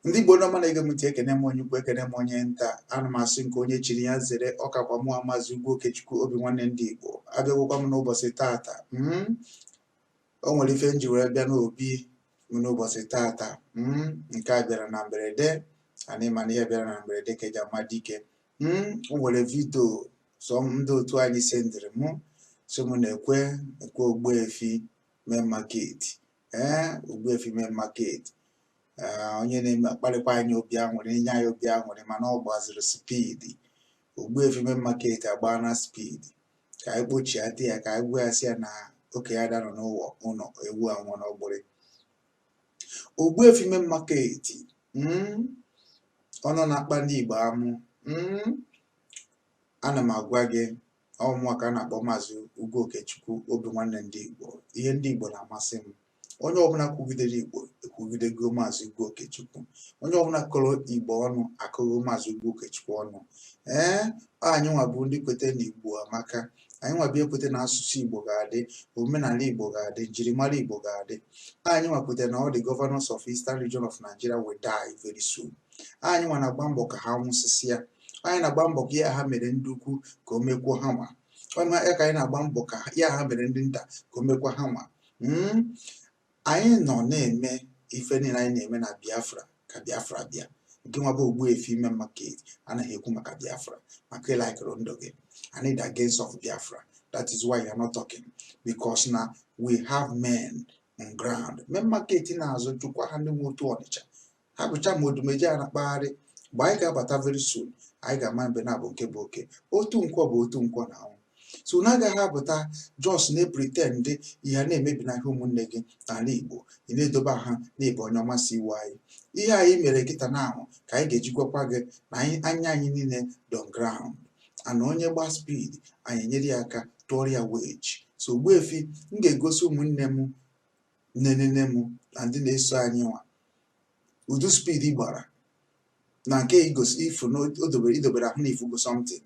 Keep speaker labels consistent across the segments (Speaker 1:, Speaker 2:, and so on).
Speaker 1: ndị Igbo nọ ma na-ege m ntị ekene m onye ukwu ekene m onye nta ana m asị nke onye chiri ya zere ọ kakwa mụwa maazị Ugwu Okechukwu obi nwanne ndị Igbo abịagwokwa m n'ụbọchị tata mm. o nwere ife m ji were bịa n'obi m n'ụbọchị tata mm. nke a bịara na mberede anyị ma na ihe bịara na mberede ka e ji ama dike mm. o nwere vidio sọ ndị otu anyị sendịrị m so m na-ekwe ekwe Ogbuefi Main Market ee Ogbuefi Main Market onye na-eme akpalikwa anyị obi aṅụrị enye anyị obi aṅụrị mana ọ gbaziri spidi Ogbuefi Main Market agbaana spidi ka anyị kpọchiate ya ka anyị gwa ya sị ya na okenye ada anọ n'ụwa ụlọ ewu anwụ n'ọgbụrị Ogbuefi Main Market hmm, ọnụ na-akpa ndị Igbo amụ hmm, ana m agwa gị ọ mụwa ka a na-akpọ maazị Ugwu Okechukwu obi nwanne ndị Igbo ihe ndị Igbo na-amasị m onye ọbụla kwugidere Igbo ekwugidego maazị Ugwu Okechukwu onye ọbụla kọrọ Igbo ọnụ akọgo maazị Ugwu Okechukwu ọnụ ee anyị nwa bụ ndị kweta na Igbo amaka anyị nwa bịa kweta na asụsụ Igbo ga-adị omenala Igbo ga-adị njirimara Igbo ga-adị anyị nwa kweta na all the governors of Eastern Region of Nigeria will die very soon anyị nwa na-agba mbọ ka ha nwụsịsịa anyị na-agba mbọ ka ihe ha mere ndị ukwu ka o mekwuo ha nwa ọ ya ka anyị na-agba mbọ ka ihe ha mere ndị nta ka o mekwa ha nwa Mm, anyị nọ na-eme ife niile anyị na-eme na biafra ka biafra bịa nke nwa bụ Ogbuefi Main Market anaghị ekwu maka biafra maka ị laịkịrị ndụ gị i need against of biafra that is why you are not talking because na we have men on ground Main Market na-azụ chụkwa ha ndị nwe Otu Ọnịcha ha bụcha ma Odumeje a na-akpagharị mgbe anyị ga-abata very soon anyị ga-ama mbe n'abọ nke bụ oke otu nkwọ bụ otu nkwọ na anwụ so na agaghị apụta just na-epretend ihe a na-emebi n'ahịa ụmụnne gị n'ala igbo ị na-edobe ahụ na ị bụ onye ọma so iwe anyị ihe anyị mere kịta na ahụ ka anyị ga-eji gwakwa gị na anyị anya anyị niile dị on ground and onye gbaa spid anyị enyere ya aka tụọrọ ya weji so Ogbuefi m ga-egosi ụmụnne m nne nne m na ndị na-eso anyị nwa ụdị spidi ị gbara na nke igosi ifu na i dobere i dobere ahụ na ifu bụ something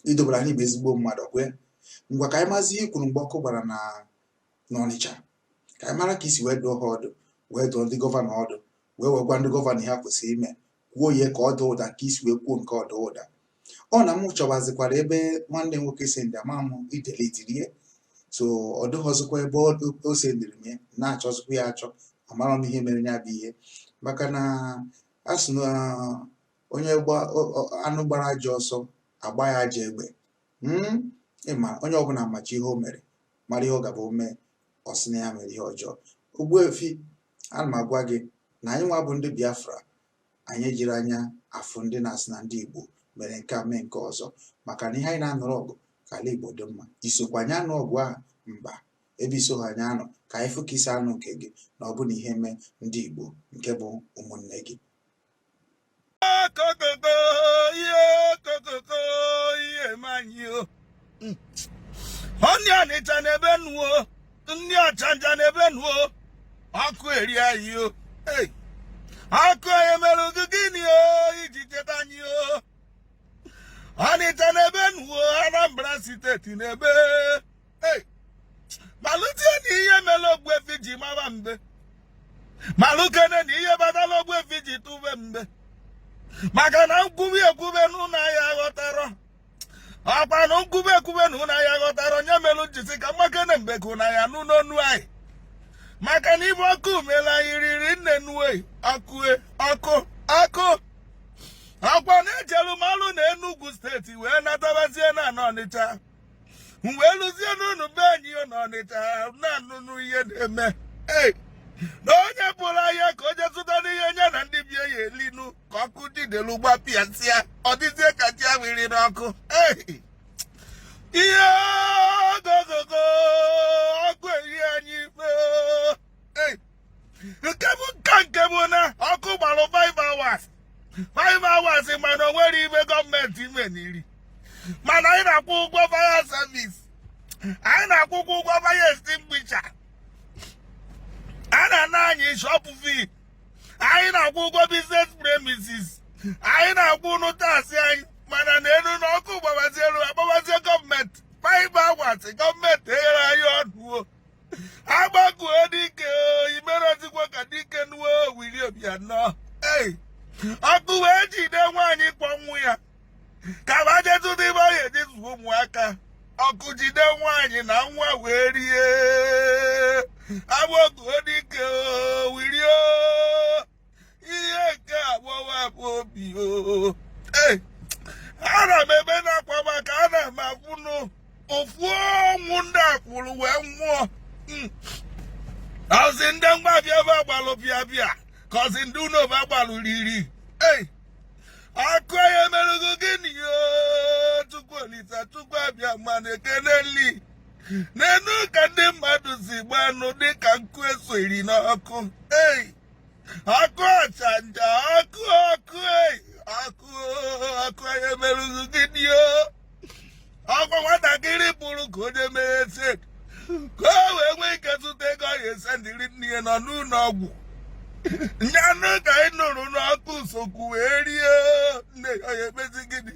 Speaker 1: i dobere ahụ na ị bụ ezigbo mmadụ okay ngwa ka anyị mazi ihe i kwuru mgbe ọkụ gbara na n'Ọnịcha ka anyị mara ka i si wee dụọ ha ọdụ wee dụọ ndị gọvanọ ọdụ wee wee gwa ndị gọvanọ ihe ha kwesịrị ime kwuo ya ka ọ daa ụda ka i si wee kwuo nke ọ daa ụda ọ na m chọwazikwara ebe nwanne nwoke sendịrị ama m o deletiri ya so ọ dịghọzikwa ebe o sendịrị m na-achọzikwa ya achọ amarọ m ihe mere ya bụ ihe maka na a sị na onye anụ gbara ajọ ọsọ a gbaa ya ajọ egbe hmm? ị ma onye ọbụla machi ihe o mere mara ihe ọ ga-abụ o mee ọ sị na ya mere ihe ọjọọ Ogbuefi ana m agwa gị na anyị nwa bụ ndị Biafra anyị ejiri anya afụ ndị na-asị na ndị Igbo mere nke a mee nke ọzọ maka na ihe anyị na-anụrụ ọgụ ka ala Igbo dị mma i sokwa anyị anụ ọgụ ahụ mba ebe i soghị anyị anụ ka anyị fụ ka i si anụ nke gị na ọ bụ na ihe mee ndị Igbo nke bụ ụmụnne gị kokoko ihe kokoko
Speaker 2: ihe mee anyị o onye Ọnịcha na-ebe nu o ndị Ọchanja na-ebe nu o ọkụ erie anyị o ọkụ anyị mere gị gịnị o i ji cheta anyị o Ọnịcha na-ebe nu o Anambra steeti na-ebe malụzie na ihe mere Ogbuefi ji mara mbem malụkene na ihe kpatara Ogbuefi ji tụbe mbem maka na m kwube ekwube n'ụlọ ahịa ghọtara ọkwa na m kwube ekwube na ụlọ ahịa ghọtara ọ ya mere m ji sị ka m makene mbem ka ụlọ ahịa n'ụlọ onu anyị maka na ife ọkụ mere anyị riri nne nue ọkụ ọkụ ọkụ ọkwa na-ejelu malụ na Enugu steeti wee natabazie na Ọnịcha wee luzie n'ụnọ be anyị na Ọnịcha na-anụnụ ihe na-eme na onye pụrụ ahịa ka o je zụtanụ ihe nya na ndị bie ya-elinu ka ọkụ jidelu gbapịasịa ọ dịzie ka ji awiri n'ọkụ ihe ogogogo ọkụ erie anyị nke bụ nka nke bụ na ọkụ gbara 5 hours 5 hours mana o nwere ife gọọmenti meniri mana anyị na-akwụ ụgwọ fire service anyị na-akwụkwa ụgwọ fire extinguisher a na-ana anyị shop fee anyị na-akwụ ụgwọ business premises anyị na-akwụnụ taasị anyị mana neenu na ọkụ gbabazie elu agbabazie gọọmenti 5 hours gọọmenti eghere anyị ọnụ Akpọkuo dike i merọzikwa ka dike nu o Willie Obiano ei ọkụ wee jide nwaanyị kwọ nwa ya ka fa je chụta ife ọ ga-eji zụọ ụmụaka ọkụ jide nwaanyị na nwa wee rie Akpọkuo dike Willie ihe nke agbawa m obi o ana m ebenụ akwa maka ana m akwụnụ ofu ọnwụ ndị a kwụrụ wee nwụọ hmm. ọzi ndị ngwa afịa fa gbalụ pịa pịa ka ọzi ndị ụnọ fa gbalụ riri ei ọkụ anyị merụ gị gịnị Chukwu Olisa Chukwu Abịama nekene li neenu ka ndị mmadụ si gbanụ dịka nkụ e soyiri n'ọkụ ei ọkụ ọchanja ọkụ ọkụ ọkụ ọkụ anyị merụ gị gịnị o ọkwa nwatakịrị bụrụ ka onye mere ese ka o wee nwee ike zụta ego ọ ga-esendịrị nne ya nọ n'ụlọ ọgwụ nyanụ ka anyị nụrụ n'ọkụ sokwu wee rie nne ya ọ ga-emezi gịnị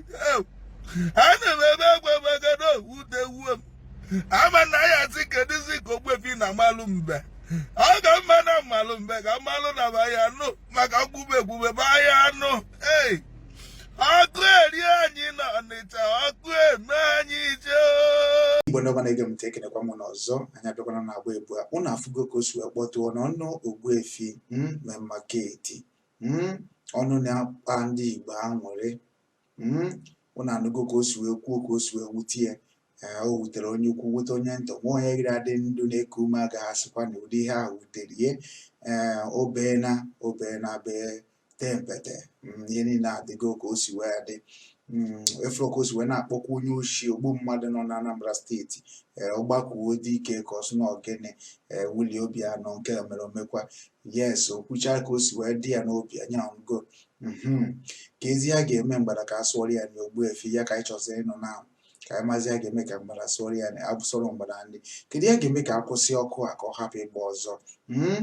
Speaker 2: ana m ebe akwa maka na o wutewo m ama na ya asị kedụzi ka Ogbuefi na malụ mbe ọ ga mma na mmalụ mbe ka mmalụ na ba ya anụ maka mgbube egbube ba ya anụ ei ọkụ erie anyị na ọnịcha ọkụ eme anyị
Speaker 1: ife igbo ndị ọma na-ege m ntị ekenekwa m unu ọzọ anyị abịakwana na agba ebụa ụnụ afụgo ka o si wee kpọtụọ n'ọnụ Ogbuefi Main Market ọnụ na-akpa ndị igbo aṅụrị hmm, unu anụgo ka o si wee kwuo ka o si wee wute ya o wutere onye ukwu wute onye nta o nweghị onye gịrị adị ndụ na-eku ume agaghị asịkwa na ụdị ihe ahụ wutere ihe ee obeena obeena bee tee mpete hmm, ihe niile adịgo ka o si wee dị Mm, ị fụrụ ka o si wee na-akpọkwa onye oshi ogbu mmadụ nọ na Anambra steeti eh, Akpọkuedike ka ọ sị na ogene eh, Willie Obianọ nke mere omekwa yes okwucha ka o si wee dị ya n'obi anyị anụgo mhm. kezi ihe a ga-eme mgbada ka a sụọrọ ya na Ogbuefi ya ka anyị chọziri ịnụ na ka anyị mazi ihe a ga-eme ka mgbada sụọrọ ya abụsọrọ mgbada ndị kedu ihe a ga-eme ka a kwụsị ọkụ a ka ọ hapụ ịgba ọzọ mhm.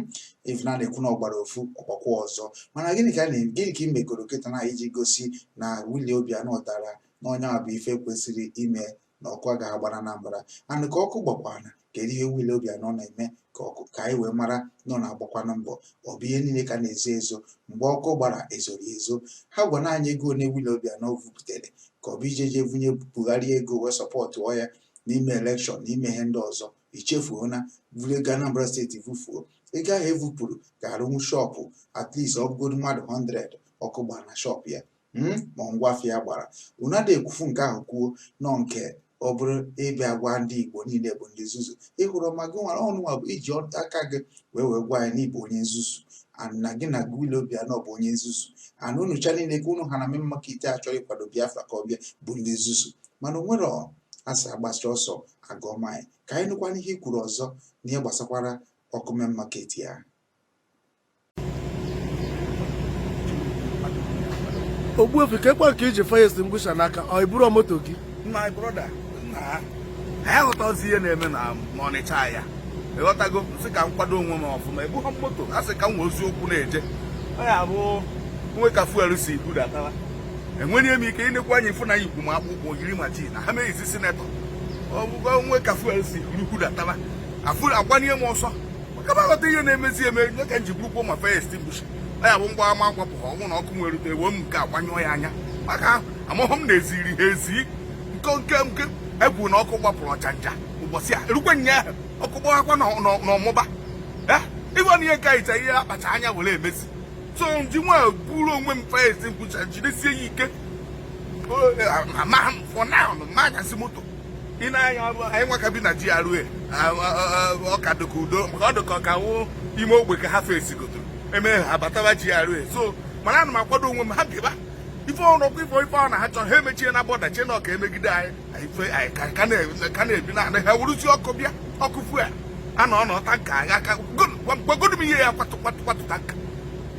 Speaker 1: ife a na-ekwu na ọ gbara ofu ọ gbakwa ọzọ mana gịnị ka gịnị ka ị megoro kịta na iji gosi na Willie Obianọ ghọtara na nya bụ ife kwesịrị ime na ọkụ agaghị agba n'Anambra and ka ọkụ gbakwana kedu ihe Willie Obianọ na-eme ka ọkụ ka anyị wee mara na ọ na-agbakwanụ mbọ ọ bụ ihe niile ka a na-ezo ezo mgbe ọkụ gbara e zoro ezo ha gwanụ anyị ego ole Willie Obianọ vupụtare ka ọ bụ ije je vunye Buhari ego wee sọpọtụọ ya n'ime elekshọn n'ime ihe ndị ọzọ i chefuo na o vuru ego Anambra steeti vufuo ego ahụ evupụrụ ga-arụnwu shọpụ at least ọ bụgodu mmadụ 100 ọkụ gbara na shọpụ ya hmm? ma ngwa afịa gbara unu adịghị ekwufu nke ahụ kwuo nọ nke ọ bụrụ ịbịa gwa ndị Igbo niile bụ ndị nzuzu ịhụrụ ma gị nwere ọnụnwa bụ iji aka gị wee wee gwa ya na ị bụ onye nzuzu na gị na Willie Obianọ bụ onye nzuzu na unucha niile ka unu ha na Main Market achọghị ịkwado Biafra ka ọ bịa bụ ndị nzuzu mana o nwere a sị a gbasịa ọsọ a gụọ maịl ka anyị nụkwana ihe i kwuru ọzọ n'ihe gbasakwara ọkụ Main Market a
Speaker 3: Ogbuefi kekwanụ ka i ji fire extinguisher n'aka ọ i buru moto gị my brother
Speaker 2: nna ha aghọtazi ihe na-eme na Ọnịcha a ị ghọtago sị ka m kwado onwe m ọfụma ebughọ moto a sị ka m wezi ụkwụ na-eje ọ ya bụ o nwee ka fuel si budatawa enweghị m ike i nekwa anya ị fụ n'ụkwụ m akpụkpọ yiri ma ji na ha meghịzi sinetọ ọ bụgo o nwee ka fuel si ruhudataba afụ agbanye m ọsọ ka m ghọta ihe na-emezi eme nye ka m ji burukwa ma fire extinguisher ya bụ mgba ama akwapụ ha ọnwụ na ọkụ nwere rute ewe m nke agbanyụọ ya anya maka amụhụ m na-eziri ha ezi nke nke nke egwu na ọkụ gbapụrụ Ochanja ụbọchị a erukwe nyaahụ ọkụ gbawakwa n'Omagba ịgwa na ihe nke anyị ihe akpacha anya were emezi so m ji nwa buru onwe m fire extinguisher jidesie ya ike amaghị m fọ na anyasị moto ị na-anya ọrụ anyị nwa ka bi na GRA ọ ka dịka udo maka ọ dịka ọ ka wụ ime ogbe ka ha fesigodu eme ha bataba GRA so mana ana m akwado onwe m ha bịaba ife ọrụ ọkwa ife ife ọ na ha chọrọ ha emechie na bọda chie na ọ ka emegide anyị anyị ka na-ebi na ha wuruzie ọkụ bịa ọkụ fuel a na ọ na tanker agha aka gwagodu m ihe ya kwatụ kwatụ kwatụ tanker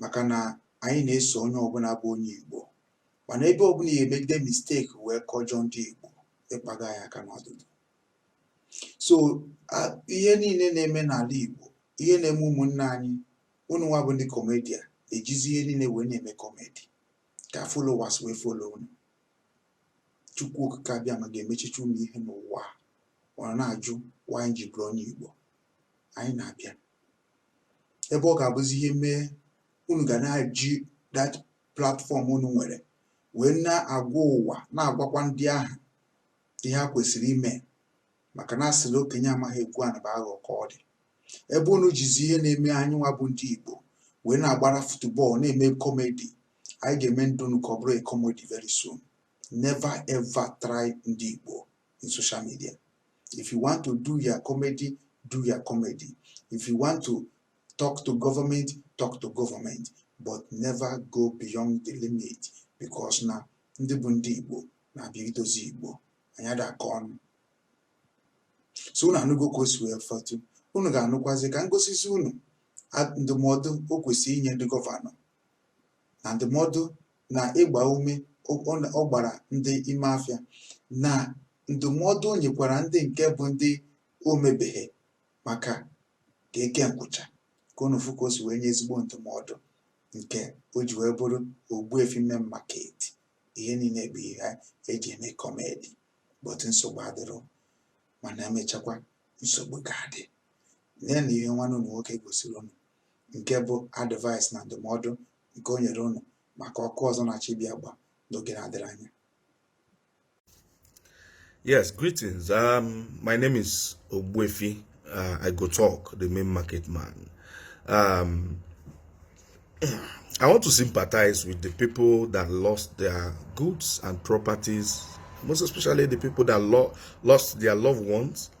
Speaker 1: maka na anyị na-eso onye ọbụla bụ onye Igbo mana ebe ọbụla ya emegide mistake wee kọjọ ndị Igbo ị kpaga anyị aka n'ọdụdụ so ihe niile na-eme n'ala Igbo ihe na-eme ụmụnne anyị unu nwa bụ ndị comedian ejizi ihe niile wee na-eme comedy ka followers wee follow unu Chukwu Okike Abịama ga-emechicha unu ihe n'ụwa ọ na-ajụ why anyị ji bụrụ onye Igbo anyị na-abịa ebe ọ ga-abụzi ihe mee unu ga na-eji that platform unu nwere wee na-agwa ụwa na-agwakwa ndị ahụ ihe a kwesịrị ime maka na a sịrị okenye amaghị egwu a na-abụ aghọ ka ọ dị ebe unu jizi ihe na-eme anyị nwa bụ ndị Igbo wee na-agbara football na-eme comedy anyị ga-eme ndụ unu ka ọ bụrụ comedy very soon never ever try ndị Igbo in social media If you want to do your comedy, do your comedy. If you want to talk to government, talk to government, but never go beyond the limit because na ndị bụ ndị Igbo na-abịa idozi Igbo anyị ada aka ọnụ so unu anụgo ka o si wee fọtụ unu ga-anụkwazi ka m gosizi unu ndụmọdụ o kwesịrị inye ndị gọvanọ na ndụmọdụ na ịgba ume ọ gbara ndị ime afịa na ndụmọdụ o nyekwara ndị nke bụ ndị o mebeghị maka ka e kee nkwụcha ka unu fụ ka o si wee nye ezigbo ndụmọdụ nke o ji wee bụrụ Ogbuefi Main Market ihe niile bụ ihe eji eme comedy but nsogbu adịrọ mana emechakwa nsogbu ga-adị nee na ihe nwanne unu nwoke gosiri unu nke bụ advice na ndụmọdụ nke o nyere unu maka ọkụ ọzọ na-achọ ịbịa agba n'oge na-adịrị
Speaker 2: anya Yes, greetings. Um, my name is Ogbuefi. Uh, I go talk, the main market man. Um, I want to sympathize with the people that lost their goods and properties, most especially the people that lo lost their loved ones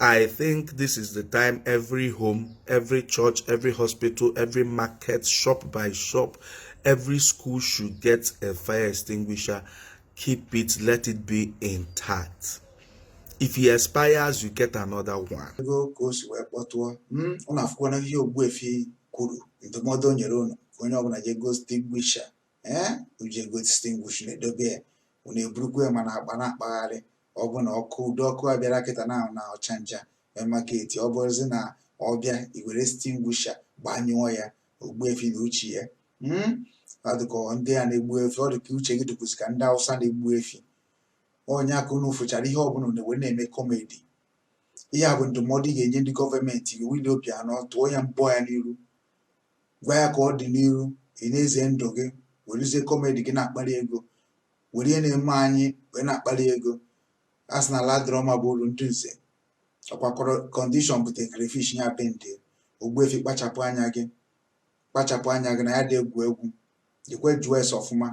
Speaker 2: I think this is the time every home, every church, every hospital, every market, shop by shop, every school should get a fire extinguisher. Keep it, let it be intact. If it expires, you get another one. ego ka o si wee kpọtụọ m unu afụkwana ihe Ogbuefi kwuru ndụmọdụ o nyere unu ka onye ọbụla jee goo extinguisher
Speaker 1: ee jee goo extinguisher na-edobe ya unu eburukwa ya ma n'akpa na-akpagharị ọ bụ na ọkụ ụdị ọkụ a bịara kịta na na Ọchanja market ọ bụrụzi na ọ bịa ị were extinguisher gbanyụọ ya Ogbuefi na uche ya hmm? ọ dịka ndị a na-egbu efi ọ dịka uche gị dịkwuzi ka ndị Awụsa na-egbu efi onye aka unu fụchara ihe ọbụla na wee na-eme comedy ihe a bụ ndụmọdụ ị ga-enye ndị government gị Willie Obiano tụọ ya mbọ ya n'iru gwa ya ka ọ dị n'iru ị na-eze ndụ gị werezie comedy gị na-akpali ego were ihe na-eme anyị wee na-akpali ego a sị na ala adịrọ mma bụ uru ndị nze ọkwa kọrọ- condition bute crayfish ya bend Ogbuefi kpachapụ anya gị kpachapụ anya gị na anyị adị egwu egwu jekwa jụọ ese ọfụma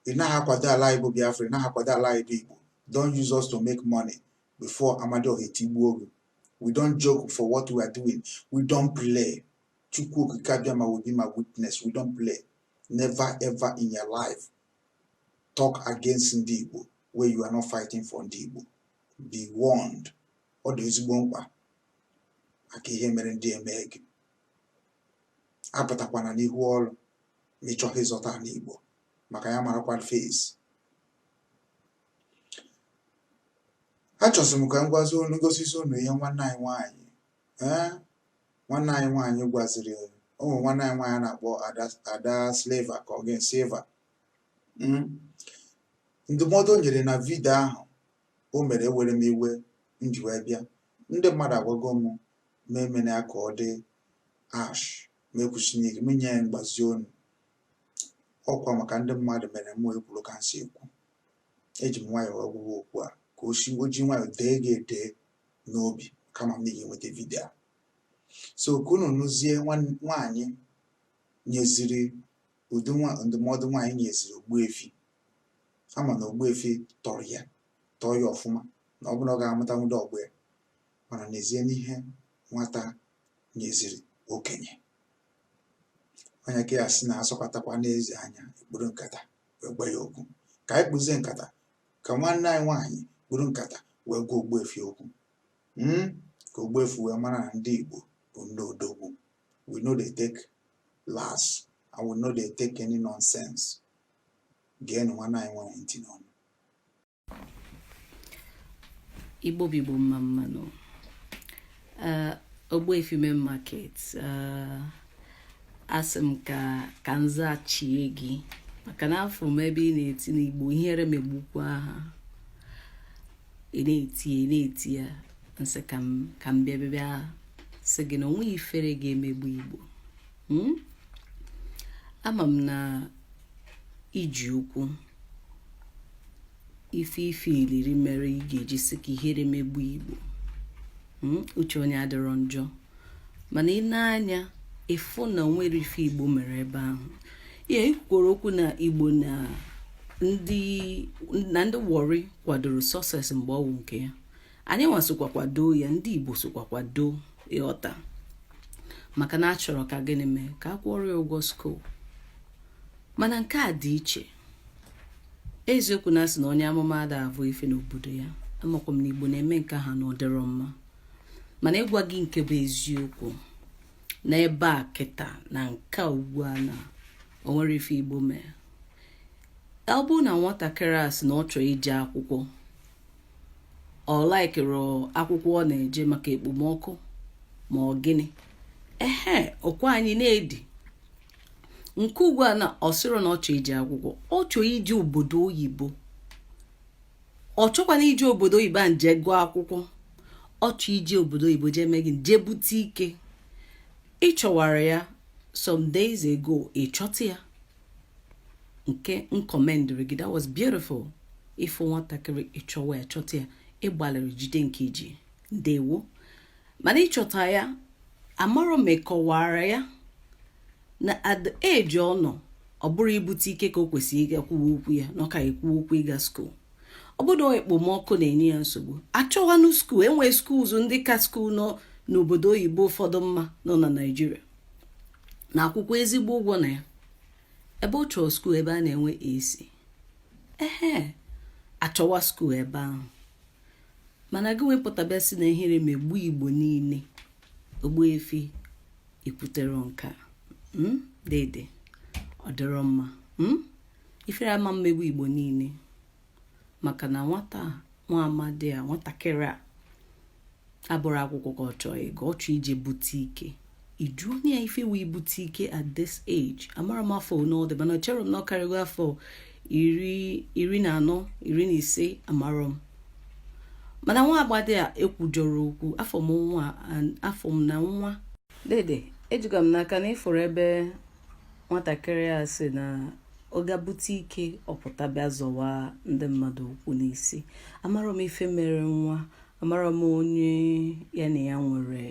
Speaker 1: ị naghị akwado ala anyị bụ Biafra ị naghị akwado ala anyị bụ Igbo don't use us to make money before Amadioha etigbuo gị we don't joke for what we are doing we don't play Chukwu Okike Abịama will be my witness we don't play never ever in your life talk against ndị Igbo where you are not fighting for ndị Igbo be warned ọ dị ezigbo mkpa maka ihe mere ndị eme gị apụtakwana n'ihu ọrụ ma ị chọghị ịzọta ala Igbo maka ya marakwa face achọzị m ka m gwazi unu gosi unu ihe nwanne anyị nwaanyị ee nwanne anyị nwaanyị gwaziri ụmụ nwanne anyị nwaanyị a na-akpọ Ada Sleva ka ọ Ada Silver hmm? ndụmọdụ o nyere na vidio ahụ o mere ewere m iwe m ji wee bịa ndị mmadụ agwago m m emena ya ka ọ dị harsh m ekwusina ike m nye ya mgbazi ọnụ ọkwa maka ndị mmadụ mere m ekwuru ka m si ekwu eji m nwayọọ agwa gị okwu a ka o si o ji nwayọọ dee gị edee n'obi kama m n'ihi nweta vidio a so ka unu nụzie nwaanyị nyeziri ụdị ndụmọdụ nwaanyị nyeziri Ogbuefi a ma na Ogbuefi tọrọ ya tọọ ya ọfụma na ọ bụ na ọ ga-amụta nwa ụdị ọgbọ ya mana nezienụ ihe nwata nyeziri okenye onye ka ya sị na a sọkatakwanụ eze anya e kpuru nkata wee gwa ya okwu ka anyị kpuzie nkata ka nwanne anyị nwaanyị kpuru nkata wee gwa Ogbuefi okwu hmm? ka Ogbuefi wee mara na ndị Igbo bụ ndị odogwu we no dey take last and we no dey take any nonsense geenụ nwanne anyị nwaanyị ntị
Speaker 4: n'ọnụ igbo bụ igbo mma mma nụ Uh, Ogbuefi Main Market uh, asị m ka ka m zachie gị maka na afụ m ebe ị na-eti n'igbo ihere megbukwa ha ị na-eti ị na-eti ya m sị ka m ka m bịa bịa sị gị na onweghị ifere ga-emegbu igbo hmm? ama m na i ji okwu ife ife iliri mere ị ga-eji sị ka ihere megbu igbo hmm? uche onye adịrọ njọ mana i nee anya ị fụ na onwerọ ife igbo mere ebe ahụ ya i kwukwuru okwu na igbo na ndị na ndị Warri kwadoro Success mgbe ọwụ nke ya anyị nwa sokwa kwado ya ndị igbo sokwa kwado ịghọta maka na achọrọ ka gịnị mee ka a kwụọrọ ya ụgwọ skuul mana nke a dị iche eziokwu na asị na onye amụma ada abụ ife n'obodo ya amakwa m na igbo na-eme nke ha na ọdịrọ mma mana ịgwa gị nke bụ eziokwu na ebe a kịta na nke ugbu a na o nwerọ ife igbo mee ọ bụrụ na nwatakịrị a sị na ọ chọrọ ije akwụkwọ ọ likerọ akwụkwọ ọ na-eje maka ekpomọkụ ma ọ gịnị ehe ọkwa anyị na-edi nke ugbu a na ọ sịrọ na ọ chọọ ije akwụkwọ ọ chọọ ije obodo oyibo ọ chọkwana ije obodo oyibo a nje gụọ akwụkwọ ọ chọọ ije obodo oyibo jee mee gị jee bute ike ị chọwara ya some days ago ị chọta ya nke m commendịrị gị that was beautiful ị fụ nwatakịrị ị chọwa ya chọta ya ị gbalịrị jide nke i ji ndewo mana ị chọta ya amarọ m ị kọwara ya na at the age ọ nọ ọ bụrọ ibute ike ka o kwesịrị ịga kwuwe okwu ya na ọ ka ekwu okwu ịga skuul ọ bụrụ ekpomọkụ na-enye ya nsogbu achọwanụ skuul enwe schools ndị ka skuul nọ n'obodo oyibo ụfọdụ mma nọ na naijiria na-akwụkwa ezigbo ụgwọ na ya ebe ọ chọrọ skuul ebe a na-enwe ac ehe achọwa skuul ebe ahụ mana gị wee pụta bịa sị na ihere megbu igbo niile ogbuefi i kwuterọ nke a hmm? dede ọ dịrọ mma hmm? ifere ama emegbu igbo niile maka na nwata nwa amadi a nwatakịrị a abụrọ akwụkwọ ka ọ chọọ ịgụ ọ chọọ ije bute ike iju onye ya ife wee bute ike at this age amarọ m afọ one ọ dị mana chere m na ọ karịgo afọ iri na anọ iri na ise amarọ m mana nwa agbadi a ekwujọrọ okwu afụ m nwa afụ m na nwa dede ejiga m n'aka na ị fụrụ ebe nwatakịrị a sị na ọ ga-ebute ike ọ pụta bịa zọwa ndị mmadụ okwu n'isi amarọ m ife mere nwa amarọ m onye ya na ya nwere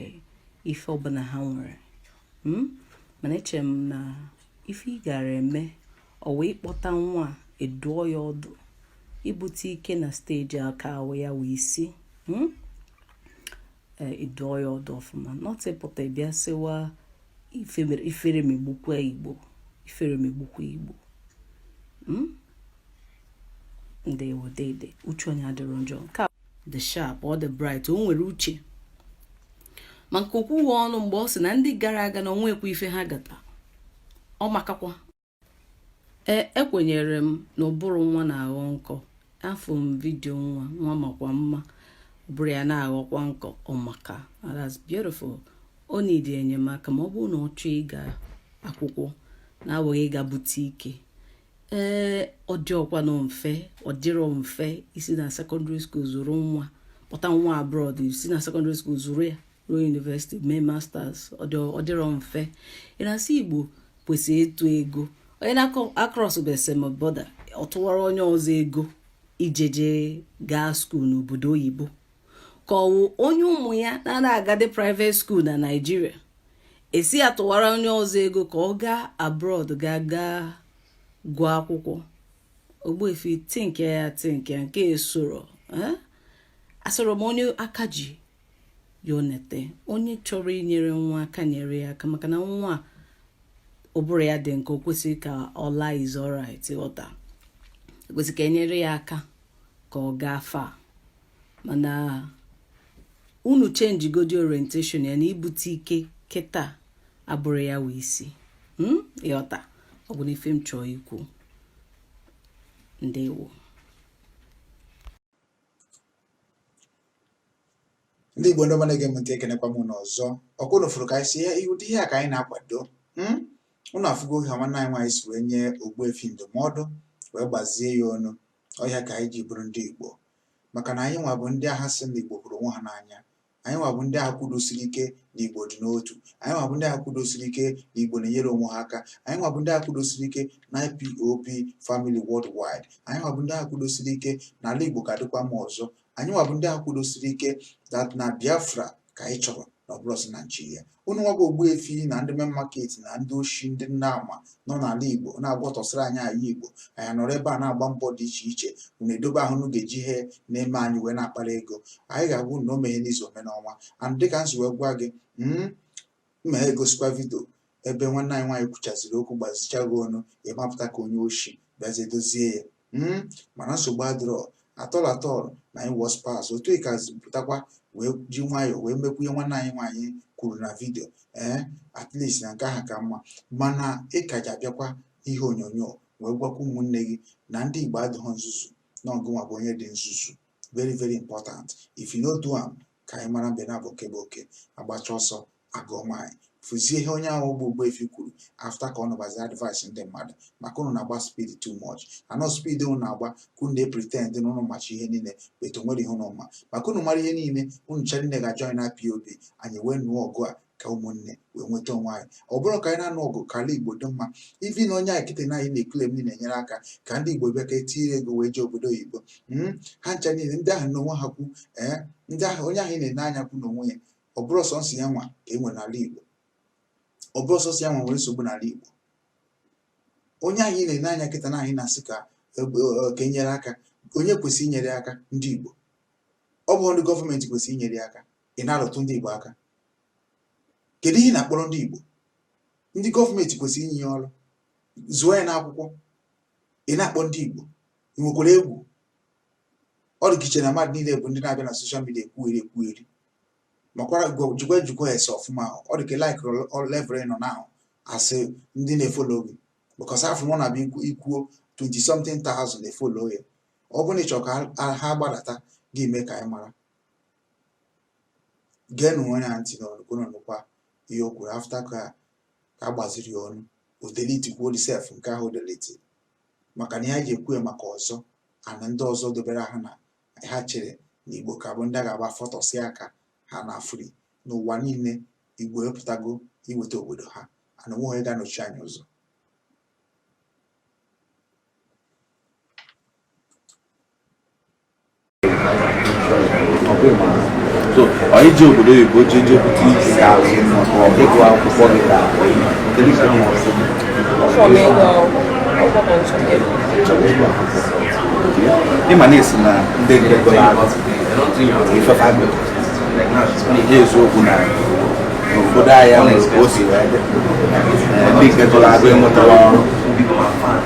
Speaker 4: ife ọbụla ha nwere hmm? mana eche m na ife ị gara eme ọ wụ ịkpọta nwa ị dụọ ya ọdụ ibute ike na stage a akawụ ya wụ isi hmm? ị dụọ ya ọdụ ọfụma not ịpụta bịa sịwa ifere megbukwa igbo ifere megbukwa igbo hmm? ndewo dede uche onye adịrọ njọ dị sharp ọ dị bright o nwere uche maka o kwuwe ọnụ mgbe ọ sị na ndị gara aga na o nwekwa ife ha gata ọ makakwa ee ekwenyere m na ụbụrụ nwa na-aghọ nkọ afụ m video nwa nwa makwa mma ụbụrụ ya na-aghọkwa nkọ ọ maka that's beautiful ọ need enyemaka ma ọ bụrụ na ọ chọọ ịga akwụkwọ na-awụghị ịga bute ike ee ọ dịrọkwanụ mfe ọ dịrọ mfe isi na secondary school zụrụ nwa kpọta nwa abroad isi na secondary school zụrụ ya ruo university mee masters ọ dịrọ mfe ị na-asị igbo kwesịrị ịtụ ego onye na-acrossbe Seme border ọ tụwara onye ọzọ ego iji je gaa school n'obodo oyibo ka ọ wụ onye ụmụ ya na ana-agadị private school na Nigeria ị sị ya tụwara onye ọzọ ego ka ọ gaa abroad ga gaa gụọ akwụkwọ ogbuefi think ya think nke esoro eh? asọrọ m onye aka ji ya onete onye chọrọ inyere nwa aka nyere ya aka maka na nwa ụbụrụ ya dị nkọ o kwesịrị ka ọ laa is alright ghọta o kwesị ka e nyere ya aka ka ọ gaa far mana unu change godi orientation ya na ibute ike kịta abụrọ ya wụ isi hmm? ị ghọta ọ bụnụ ife m chọọ ikwu ndewo
Speaker 1: ndị igbo ndị ọma na-ege m ntị ekenekwa m ụnụ ọzọ ọ kwa ụnụ fụrụ ka anyị sị ụdị ihe a ka anyị na-akwado hmm? ụnụ afụgo ka nwanne anyị nwaanyị si wee nye Ogbuefi ndụmọdụ wee gbazie ya ọnụ ọ ya ka anyị ji bụrụ ndị Igbo maka na anyị nwa bụ ndị ahụ sị na Igbo hụrụ onwe ha n'anya anyị nwa bụ ndị ahụ kwudosiri ike na Igbo dị n'otu anyị nwa bụ ndị ahụ kwudosiri ike na Igbo na-enyere onwe ha aka anyị nwa bụ ndị ahụ kwudosiri ike na IPOB family worldwide anyị nwa bụ ndị ahụ kwudosiri ike na ala Igbo ga-adịkwa mma ọzọ anyị nwa bụ ndị ahụ kwudosiri ike that na biafra ka anyị chọrọ na ọ bụrọzi naijiria unu nwa bụ ogbuefi na ndị main market na ndị oshi ndị nna ama nọ n'ala igbo na-agwọtọsịrị anyị ala igbo anyị nọrọ ebe a na-agba mbọ dị iche iche unu edobe ahụ unu ga-eji ihe na-eme anyị wee na-akpara ego anyị ga-agwa unu na o meghị n'izu o mee n'ọnwa and dịka m si wee gwa gị mm, m ga-egosikwa vidio ebe nwanne anyị nwaanyị kwuchaziri okwu gbazicha gị ọnụ ị mapụta ka onye oshi bịazie dozie ya mm, mana nsogbu adịrọ at all at all na im worse pass otu ị kazi pụtakwa wee ji nwayọọ wee mekwuo ihe nwanne anyị nwaanyị kwuru na vidio ee eh, at least na nke ahụ ka mma mana ị kaji abịakwa ihe onyonyo wee gwakwa ụmụnne gị na ndị Igbo adịghị nzuzu na ọ gịnwa bụ onye dị nzuzu very very important if you no do am ka anyị mara mbe naabọ nke bụ oke agbacha ọsọ agụọ mile fụzie ihe onye ahụ bụ Ogbuefi kwuru after ka ọ nụbazi advice ndị mmadụ maka unu na-agba speed too much and ọ speed unu na-agba ka unu na-epretend na unu macha ihe niile but o nwerọ ihe unu ma maka unu mara ihe niile unu ncha niile ga-ajoin IPOB anyị wee nụọ ọgụ a ka ụmụnne wee nweta onwe anyị ọ bụrụ ka anyị na-anụ ọgụ ka ala igbo dị mma even onye a kịta na anyị na-eclaim na-enyere aka ka ndị igbo bịa ka e tinye ego wee jee obodo oyibo hmm? ha ncha niile ndị ahụ n'onwe ha kwu ee eh? ndị ahụ onye ahụ ị na-ene anya kwu n'onwe ya ọ bụrọ sọọsọ ya nwa ka e nwere n'ala igbo ọ bụrọ sọọsọ ya nwa nwere nsogbu n'ala igbo onye ahụ ị na-ene anya kịta na anyị na-asị ka e, e, ka e nyere aka onye kwesịrị inyere aka ndị igbo ọ bụ ndị gọọmenti kwesịrị inyere aka ị na-arụtụ ndị Igbo aka kedu ihe ị na-akpọrọ ndị Igbo ndị gọọmenti kwesịrị inye ya ọrụ zụọ ya n'akwụkwọ ị na-akpọ ndị Igbo ị nwekwara egwu ọ dị ka i che na mmadụ niile bụ ndị na-abịa na social media ekwugheri ekwugheri makwara jikwa ejikwa ese ọfụma ọ dị ka like level nọ na asị ndị na-efolo gị because afọ mụ na-abịa ikwuo 20 something thousand followers ọ bụrụ na ị chọrọ ka ha gbadata gị mee ka anyị mara geenụ onye a ntị n'ọnụ ka unu nụkwa ihe o kwuru after ka ka a gbaziri ya ọnụ o delitikwuo sef nke ahụ o deliti maka na ihe e ji ekwu ya maka ọzọ and ndị ọzọ dobere ahụ na ha chere na igbo ka bụ ndị a ga-agba fọtọsị aka ha na afri n'ụwa niile igbo epụtago iweta obodo ha and o nwerọ onye ga-anọchi anyị ụzọ
Speaker 5: so anyị ji obodo oyibo ji je bute isi ịgụ akwụkwọ gị ka kedu ka m ọsọ ịma na esi na ndị nke gụrụ agụ ifefa gị ihe eziokwu na n'obodo anyị nwere ka o si wee dị ndị nke gụrụ agụ enwetarọ ọrụ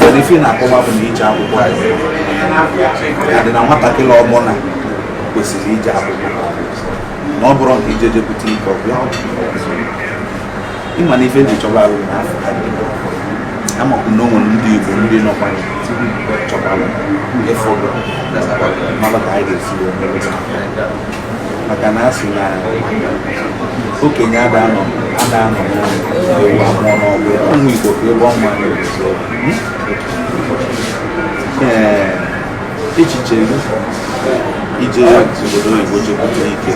Speaker 5: mana ife na-akọwa bụ na ije akwụkwọ ya dị na nwatakịrị ọbụla kwesịrị ije akwụkwọ na ọ bụrụ nke ije je bute ike ọ bịa ị ma na ife ndị chọba arụ na afọ ha dị amakwu na o nwere ndị igbo ndị nọkwa chọbara ụfọdụ mmadụ ka anyị ga-esi wee maka na a sị na okenye ada anọ ada anọ ewu amụọ n'ọgbụ ụmụ Igbo ka ebe ọnwa na-ezo ee echiche gị ije obodo oyibo je bute ike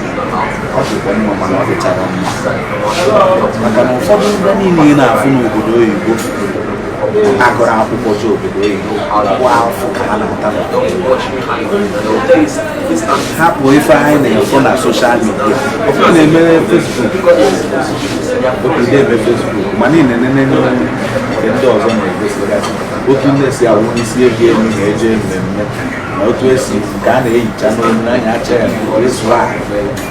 Speaker 5: ọ dịkwa mma mana ọ dịcharọ mma maka na ụfọdụ ndị niile ị na-afụ n'obodo oyibo agụrọ akwụkwọ je obodo oyibo afụfụ ka ha na-ata hapụ ife anyị na-afụ na soshal midia ọkụ na-emere fesbuk obido eme fesbuk ma niile nene nke ndị ọzọ na-egosigasị otu nne si awụsi ego elu na-eje mmemme na otu esi nke a na-eyicha n'olu n'anya acha ya na esụrụ ahụ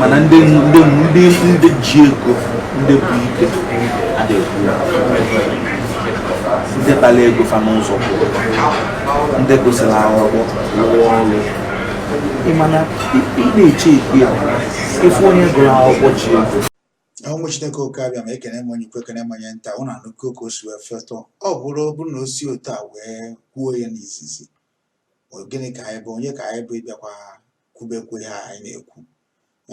Speaker 5: mana ndị ndị ndị ndị ji ego ndị bụ ike a na-ekwu ndị kpatara ego fa n'ụzọ kwụrụ ndị gụsịrị akwụkwọ rụọ ọrụ ị ma na ị na-eche ekwe ya ịfụ onye gụrụ akwụkwọ ji ego ụmụ
Speaker 1: chineke oke abịama ekene m onye ukwu ekene m onye nta ụnụ anụgo ka o si wee fetọ ọ bụrụ ọ bụrụ na o si otu a wee kwuo ya n'izizi gịnị ka anyị bụ onye ka anyị bụ ịbịakwa kwubekwu ihe a anyị na-ekwu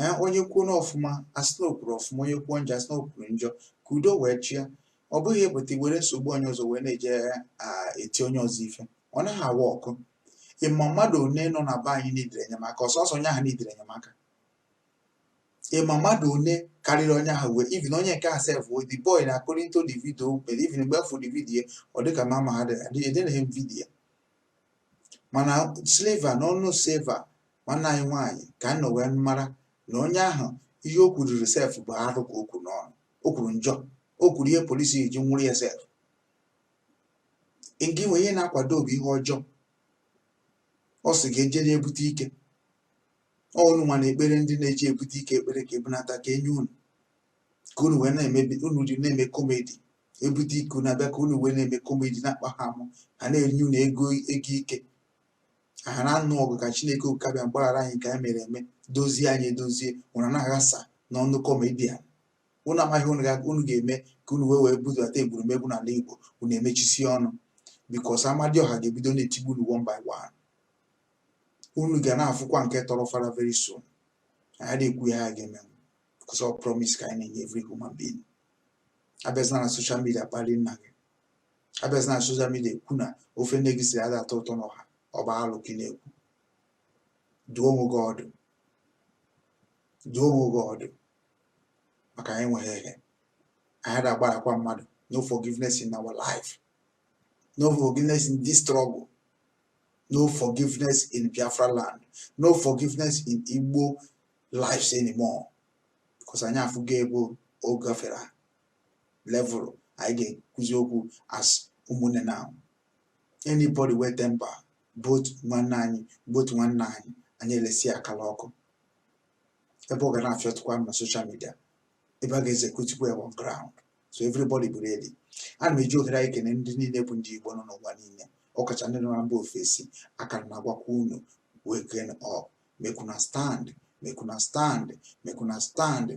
Speaker 1: ee onye kwuo n'ọfụma a sị na o kwuru ọfụma onye kwuo njọ a sị na o kwuru njọ ka udo wee chịa ọ bụghị ịpụta iwere nsogbu onye ọzọ wee na-eje a eti onye ọzọ ife ọ naghị awa ọkụ ị ma mmadụ one nọ na be anyị nidiri enyemaka ọsọsọ onye ahụ nidiri enyemaka ị ma mmadụ one karịrị onye ahụ wee even onye nke a sef wee the boy na according to the video mere even before the video ọ dịka mama ha dịghị edere m vidiyo mana silva na ọnụ silva nwanne anyị nwaanyị ka anyị nọ wee mara na onye ahụ ihe o kwuriri sef bụ arụ ka o kwuru n'ọnụ o kwuru njọ o kwuru ihe polisi ji nwụrụ ya sef nke inwe ihe na-akwado bụ ihe ọjọọ ọ sị ga ejere ebute ike unu nwa na-ekpere ndị na-eje ebute ike ekpere ka e bunata ka e nye unu ka unu wee na-emebi unu ji na-eme komedi ebute ike na-abịa ka unu wee na-eme komedi na-akpa ha amụ ha na-enye unu ego ego ike ha na-anụ ọgụ ka chineke oke abịama gbaghara anyị ka anyị mere eme dozie anyị edozie unu na-aghasa n'ọnụ kọmedian unu amaghị unu ga- unu ga-eme ka unu wee wee budata egwurumegwu n'ala igbo unu emechisi ọnụ bikos amadioha ga-ebido na-etigbu unu one by one unu ga na-afụkwa nke tọrọ fara very soon anyị na-ekwu ya ha ga-eme bikos ọ promise ka anyị na-enye every human being abịazina na social media kpalị nna gị abịazina na social media ekwu na ofe nne gị siri ada atọ ụtọ n'ọha ọ bụ alụ ka ị na-ekwu dụọ onwe gị ọdụ dụọ onwe gị ọdụ maka anyị nweghị ihe anyị ada agbarakwa mmadụ no forgiveness in our life no forgiveness in this struggle no forgiveness in biafra land no forgiveness in igbo lives anymore because anyị afụgo ebe ọ gafere level anyị ga-ekwuzi okwu as ụmụnne now anybody wey tamper both nwanne anyị both nwanne anyị anyị elesi akala ọkụ ebe ọ ga na-afịọtụkwa na social media ebe a ga-executekwa ya on ground so everybody be ready ana m eji ohere anyị kene ndị niile bụ ndị igbo nọ n'ụwa niile ọkacha ndị nọ na mba ofesi aka na-agwakwa unu waken up make una stand make una stand make una stand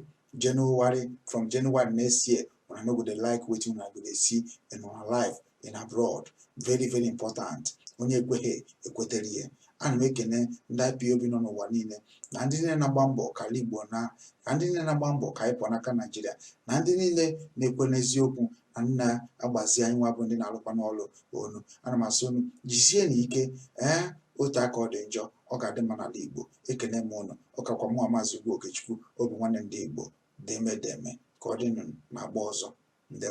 Speaker 1: january from january next year una no go dey like wetin una go dey see in una life in abroad very very important onye ekweghị ekwetere ihe ana m ekene ndị ipob nọ n'ụwa niile na ndị niile na-agba mbọ ka ala igbo na na ndị niile na-agba mbọ ka anyị pụọ n'aka naijiria na ndị niile na-ekwe n'eziokwu na na-agbazi anyị nwa bụ ndị na-alụkwa n'ọlụ unu ana m asị unu jisienụ ike ee otu a ka ọ dị njọ ọ ga-adị mma n'ala Igbo ekene m unu ọ kakwa mụ maazị Ugwu Okechukwu Obinwanne ndị Igbo deme deme ka ọ dịnụ na agba ọzọ ndewo